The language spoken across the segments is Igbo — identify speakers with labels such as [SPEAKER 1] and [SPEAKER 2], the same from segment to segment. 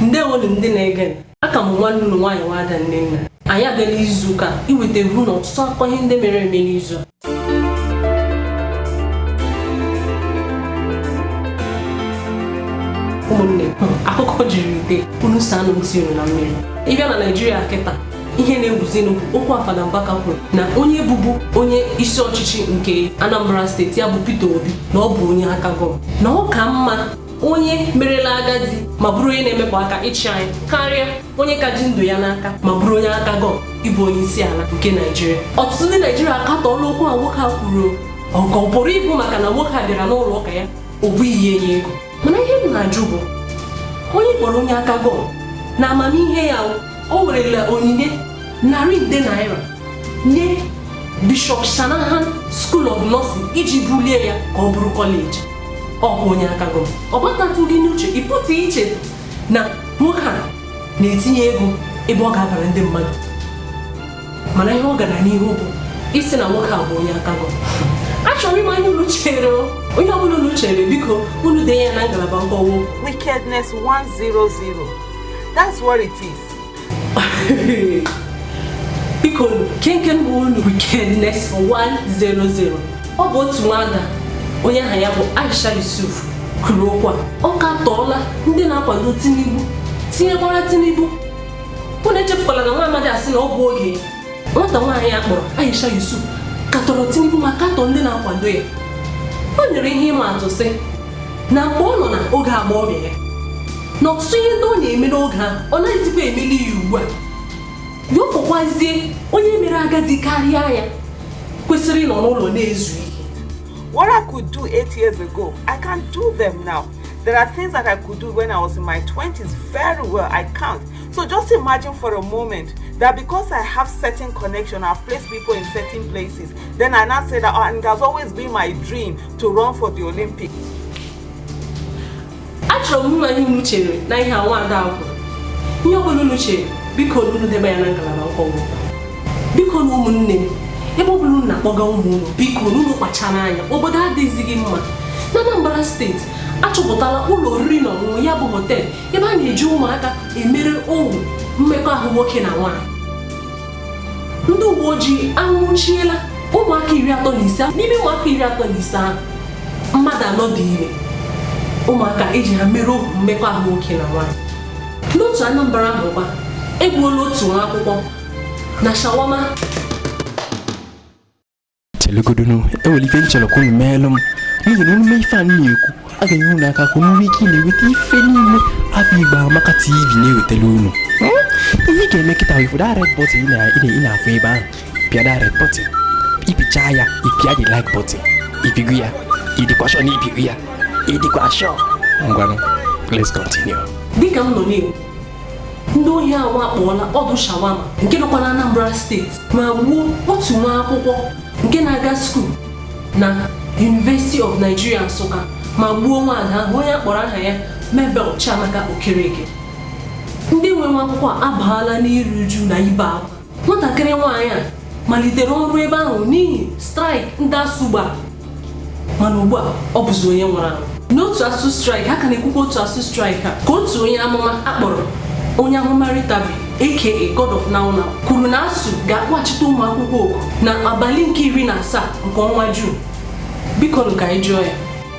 [SPEAKER 1] ndewonu ndị na-ege aka m nwanne unu nwaanyị nwada nne nna anyị abịala izu ụka iweta egwu na ọtụtụ akụkọ ihe ndị mere eme n'izu a ụmụnne akụkọ juru ite unu saa anụ ntị unu na mmiri ịbịa na naijiria kịta ihe na-ewuzinụ okwu a fada mbaka kwuru na onye bụbu onye isi ọchịchị nke anambra steeti ya bụ peter obi na ọ bụ onye aka gọm na ọ ka mma onye merela agadi ma bụrụ onye na-emepụ aka ịchị anyị karịa onye ka ji ndụ ya n'aka ma bụrụ onye aka gọm ịbụ onye isi ala nke naijiria ọtụtụ ndị naijiria akatọọla okwu a nwoke a kwuru ọ pụrụ ịbụ maka na nwoke a bịara n'ụlọ ụka ya o bughị nye ya ego mana ihe m na-ajụ bụ onye ị kpọrọ onye aka gọm na amamihe ya o werela onyinye narị nde naira nye bishọp shanahan school of nursing iji bulie ya ka ọ bụrụ kọleji ọ bụ onye aka gọm ọ batatụghị n'uche ịpụta iche na nwoke a na-etinye ego ebe ọ ga-abara ndị mmadụ mana ihe ọ gara n'ihu bụ ịsị na nwoke a bụ onye aka gọm achọrọ m ịma ihe unu chere ihe ọbụla unu chere biko unu denye ya na ngalaba nkọwa wickedness 100 that's what it is biko kee nke bụnụ wickedness 100 ọ bụ otu nwada onye aha ya bụ Aisha Yusuf kwuru okwu a ọ katọọla ndị na-akwado Tinubu tinyekwara Tinubu unu echefukwala na nwa amadi a sị na ọ bụ oge nwata nwaanyị a kpọrọ Aisha Yusuf katọrọ Tinubu ma katọ ndị na-akwado ya o nyere ihe ịma atụ sị na mgbe ọ nọ na oge agbọghọbịa ya na ọtụtụ ihe ndị ọ na-eme n'oge ahụ ọ naghịzikwa emeli ya ugbu a ya ọkpọkwazie onye mere agadi karịa ya kwesịrị ịnọ n'ụlọ na-ezu ike What I could do eight years ago, I can't do them now. There are things that I could do when I was in my 20s very well. I can't. So just imagine for a moment that because I have certain connection, I've placed people in certain places. Then I now say that, oh, and it has always been my dream to run for the Olympics. Achọrọ m ịma ihe unu chere na ihe a nwada ahụ ihe ọ bụla unu chere biko unu denye ya na ngalaba nkọwa bikonu ụmụnne m ebe ọ bụla unu na-akpọga ụmụ unu bikonu unu kpachara anya obodo adịzighị mma na Anambra steeti achọpụtala ụlọ oriri na ọṅụṅụ ya bụ họtel ebe a na-eji ụmụaka emere ohu mmekọahụ nwoke na nwaanyị ndị uwe ojii anwụchiela ụmụaka iri atọ na ise n'ime ụmụaka iri atọ na ise ahụ mmadụ anọ dị ime ụmụaka eji ha mere ohu mmekọahụ nwoke na nwaanyị n'otu Anambra ahụ a gbagbuola otu nwa akwụkwọ na shawama chelugodunu e nwere ife m chọrọ ka unu meelụ m n'ihi na unu mee ife a na-ekwu ọ ga-enye unu aka ka unu nwee ike na-enweta ife niile afọ igbo amaka tv na-ewetara unu hmm? ihe ị ga-eme kịta ị fụ the red button ị na-afụ ebe ahụ pịa the red button ị pịcha ya ị pịa the like button ị pịgo ya ị dịkwa sure na ị pịgo ya ị dịkwa sure ngwanụ let's continue dịka m nọ na-ekwu ndị ohi awakpoola ọdụ shawama nke nọkwa na Anambra steeti ma gbuo otu nwa akwụkwọ nke na-aga skuul na University of Nigeria Nsụka ma gbuo nwaada ahụ onye a kpọrọ aha ya Mabel Chiamaka Okereke ndị nwe nwa akwụkwọ abaala n'iru uju na ibe akwa nwatakịrị nwaanyị a malitere ọrụ ebe ahụ n'ihi straịk ndị ASUU gba mana ugbu a ọ bụzi onye nwụrụ anwụ n'okwu ASUU straịk a ka na-ekwukwa okwu ASUU straịk a ka otu onye amụma a kpọrọ onye amụma Ritabbi aka God of now now kwuru na ASUU ga-akpọghachite ụmụ akwụkwọ oku na abalị nke iri na asaa nke ọnwa juun biko nụ ka anyị jụọ ya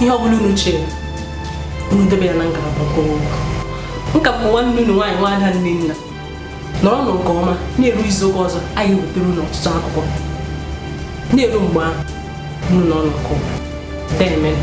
[SPEAKER 1] ihe ọ bụla unu chere unu debe ya na ngalaba mkpụrụ m ka bụ nwanne unu nwaanyị nwa ada Nnenna nọrọnụ nke ọma na-eru izu ụka ọzọ anyị wetara unu ọtụtụ akụkọ na-eru mgbe ahụ unu nọọnụ nke ọma deemenụ